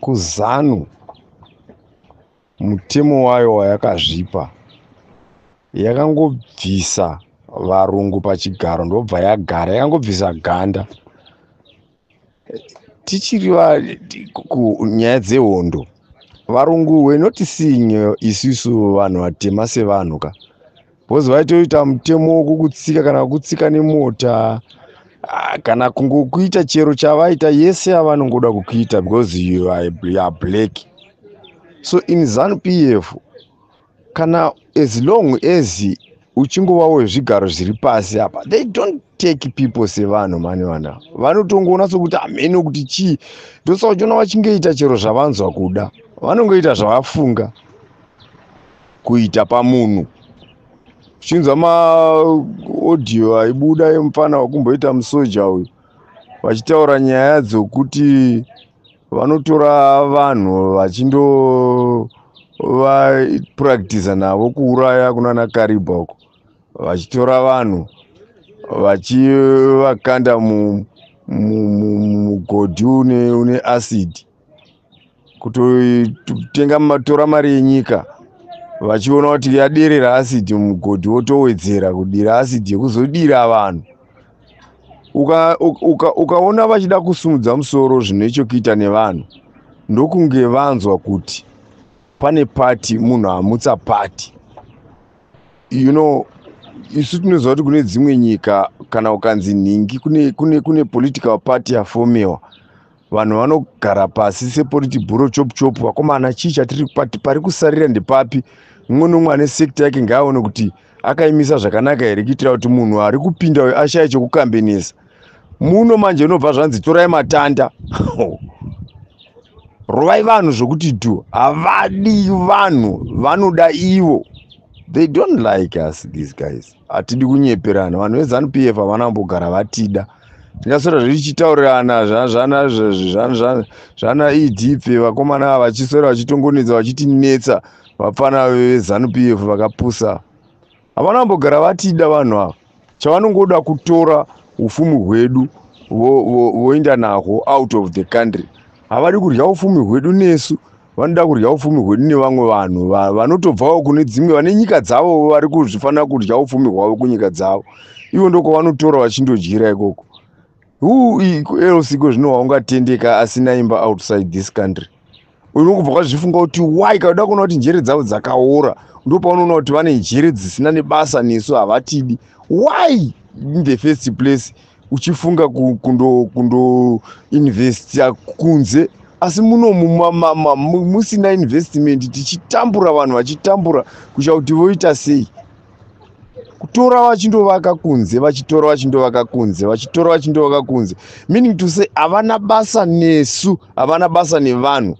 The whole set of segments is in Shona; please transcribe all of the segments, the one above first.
kuzanu mutemo wayo wayakazvipa yakangobvisa varungu pachigaro ndobva yagara yakangobvisa ganda tichiri nyaya dzehondo varungu wenotisinyo isisu vanhu vatema sevanhu ka bhozi vaitoita mutemo wokukutsika kana kukutsika nemota ah, kana kungokuita chero chavaita yese yavanongoda kukuita because you are black so in zanu p f kana as long as uchingovawo zvigaro zviri pasi apa they don't take people sevanhu mani vana vanotongoona sokuti hamene ah, kuti chii ndosaka uchiona vachingoita chero zvavanzwa kuda vanongoita zvavafunga kuita pamunhu uchinzwa maaudio aibuda emupfana wakumboita musoja uyu vachitaura nyaya dzokuti vanotora vanhu vachindovapractiza navo kuuraya kunana karibha uko vachitora vanhu vachivakanda mugodhi une acid kutotenga matora mari yenyika vachiona kuti yaderera asidi mugodhi wotowedzera kudira asidi yekuzodira vanhu ukaona uka, uka vachida kusumudza musoro zvine chokuita nevanhu ndokunge vanzwa kuti pane pati munhu amutsa pati you know isu tinoziva kuti kune dzimwe nyika kana ukanzi nhingi kune, kune, kune political party yafomiwa vanhu vanogara pasi seporiti bhuro chopu chopu vakomana chii chatiri pati pari kusarira ndepapi mumwe nomwe ane sekta yake ngaaone kuti akaimisa zvakanaka here kuitira kuti munhu ari kupinda uyo ashaye chokukambenesa muno manje unobva zvanzi torai matanda rovai vanhu zvokuti tu havadi vanhu vanoda ivo they don't like us these guys hatidi kunyeperana vanhu vezanup f havana kumbogara vatida zvichaswera zvichitaurirana zvana zvana edp vakomana ava vachiswera vachitongonetsa vachitinetsa vapfana vezanu p f vakapusa havana vambogara vatida vanhu ava chavanongoda kutora ufumi hwedu voenda nahwo out of the country havadi kudya ufumi hwedu nesu vanoda kudya upfumi hwedu nevamwe vanhu va- vanotobvawo kune dzimwe vane nyika dzavo vari kuzvifanira kudya upfumi hwavo kunyika dzavo ivo ndokwavanotora vachindodyira ikoko who i- ku- else iko zvino waungatendeka asina imba outside this country unokubva kwazvifunga kuti why kauda kuona kuti njere dzavo dzakaora ndo paunoona kuti vane njere dzisina nebasa nesu havatidi why in the first place uchifunga kundo kundo investor kunze asi muno musina investment tichitambura vanhu vachitambura kusha kuti voita sei kutora vachindovaka kunze vachitora vachindovaka kunze vachitora vachindovaka kunze meaning to say havana basa nesu havana basa nevanhu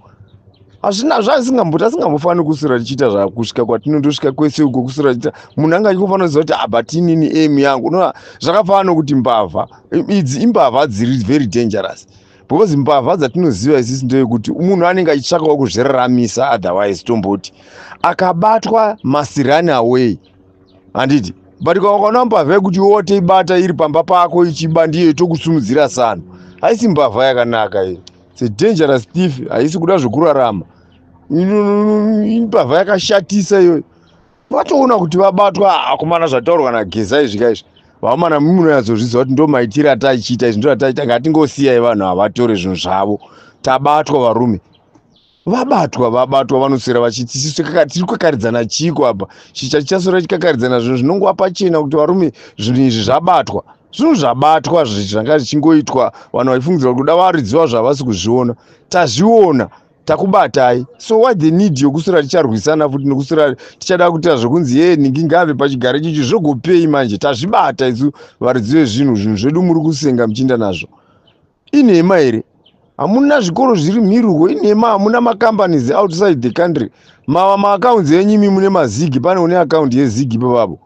hazvina zvaasingamboti asingambofaniri kuswera tichiita zvakusvika kwatinotosvika kwese uko kuswera tichiita munhu anga achikofanira kuziva kuti abatinini ah, emu yangu unoa zvakafanana nokuti mbavha idzi imbavha dziri very dangerous because mbavha dzatinoziva isisi ndeyekuti munhu anenge achitsvakawo kuzviraramisa otherwise tomboti akabatwa masirani away handiti but kawakaona mbavha yekuti wote ibata iri pamba pako ichiba ndiyo itokusumudzira sano haisi mbavha yakanaka iyo It's a dangerous thief. Haisi kuda zvekurarama. Imbavha yakashatisa iyoyo. Patoona kuti vabatwa akomana ah, zvataurwa na Geza izvi ka izvi. Vakomana munoyatsozviziva kuti ndo maitira atachiita izvi ndo atachiita ngatingosiyai vanhu havatore zvinhu zvavo. Tabatwa varume. vabatwa vabatwa vanoswera vachiti sisu tiri kukakaridzana chiiko apa chicha chichaswera chikakaridzana zvinhu zvinongova pachena kuti varume zvinhu izvi zvabatwa zvinhu zvabatwa zvanga zvichingoitwa vanhu vaifungidzira kuti kuda varidziwa zvavasi kuzviona tazviona takubatai so why the need yokuswera ticharwisana futi nokuswera tichada kuita zvekunzi ye nhingi ngave pachigare chichi zvogopei manje tazvibata isu varidziwe zvinhu zvinhu zvedu muri kusenga muchiinda nazvo inhema here hamuna zvikoro zviri mhiri uko inhema hamuna macompanies outside the country mava maaccounts enyu imi mune mazigi pane une accoundi yezigi pavavo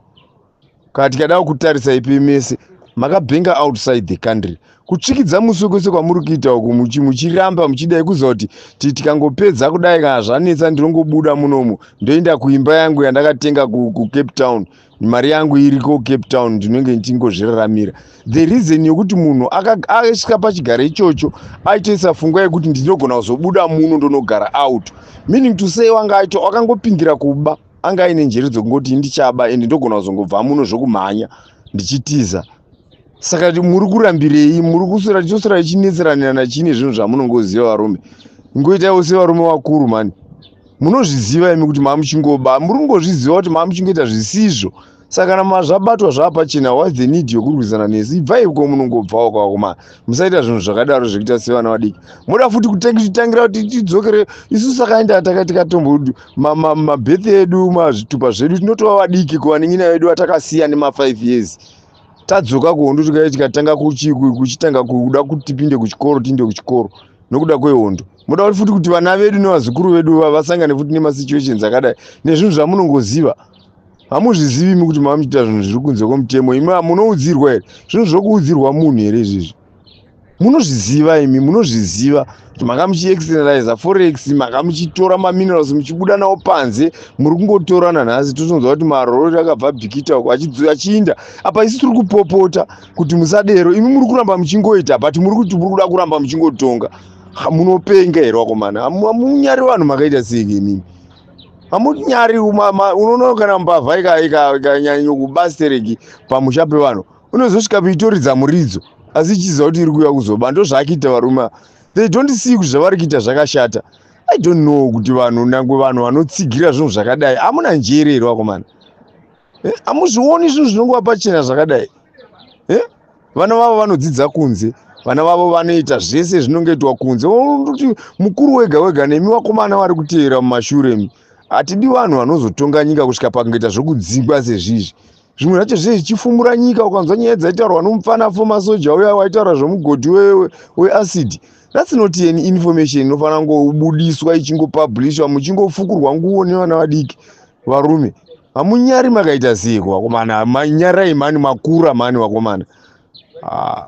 kati kadava kutarisa ipi mese makabhenga outside the country kutsvikidza musi wekose kwamuri kuita uku muchiramba muchidai kuziva kuti ti tikangopedza kudai kana zvanetsa ndinongobuda munomu ndoenda kuimba yangu yandakatenga kucape town mari yangu iriko cape town ndinenge ndichingozviraramira the reason yokuti munhu asvika pachigaro ichocho aitoisa fungwa yekuti ndinogona kuzobuda muno ndonogara out meaning to say wanga aito wakangopindira kuba anga aine njere dzekungoti ndichaba and ndogona kuzongobva muno zvokumhanya ndichitiza saka muri kurambirei muri kuswera choswera ichinetseranirana chii nezvinhu zvamunongoziva varume ngoitaiwo sevarume vakuru mani munozviziva imi kuti mamuchingoba muri kungozviziva kuti mamuchingoita zvisizvo saka kana mazvabatwa zvaapachena whats the need yokurwisana nesu ibvai ko munongobvawo kwako ma musaita zvinhu zvakadaro zvekuita sevana vadiki moda futi kutitangira kuti tidzokere isu sakaenda takatikatombomabethi edu mazvitupa zvedu tinotova vadiki kuvanin'ina vedu vatakasiya nemafive years tadzoka kuhondo tikauya tikatanga kuchitanga kuda kuti tipinde kuchikoro tiinde kuchikoro nokuda kwehondo moda kuti futi kuti vana vedu nevazukuru vedu vasangane futi nemasituations akadai nezvinhu zvamunongoziva hamuzvizivi mi kuti mava muchiita zvinhu zviri kunze kwemutemo imi munoudzirwa here zvinhu zvokuudzirwa munhu here izvizvi munozviziva imi munozviziva kuti manga muchiexternaliza forex manga muchitora maminerals muchibuda nawo panze muri kungotorana nhasi totonzwa kuti marori akabva bhikita uko achiinda apa isi tiri kupopota kuti musadero imi muri kuramba muchingoita but muri kuti muri kuda kuramba muchingotonga munopenga here wakomana hamunyari vanhu makaita seike imimi hamunyari unoona kana mbavha ikanyanya kubastereki pamusha pevanhu unozosvika peitoridza muridzo asi ichiziva kuti iri kuuya kuzoba ndozvaakiita varume they don't see kuti zvavari kuita zvakashata i don't know kuti vanhu nangwe vanhu vanotsigira zvinhu zvakadai amuna njere here vakomana eh, amuzvioni zvinhu zvinongova pachena zvakadai eh, vana vavo vanodzidza kunze vana vavo vanoita zvese zvinongoitwa kunze kuti mukuru wega wega nemi vakomana vari kuteera mumashure mi hatidi vanhu vanozotonga nyika kusvika pakungoita zvokudzingwa sezvizvi zvimwe zvacho zviye zvichifumura nyika ukanzwa nyaya dzaitaurwa nomupfana fo masoja uya waitaura zvomugodhi weacid we that's not an information inofanira kungobudiswa ichingopublishwa muchingofukurwa nguvo nevana vadiki varume hamunyari makaita seiko vakomana manyarai mani makura mani vakomana ah.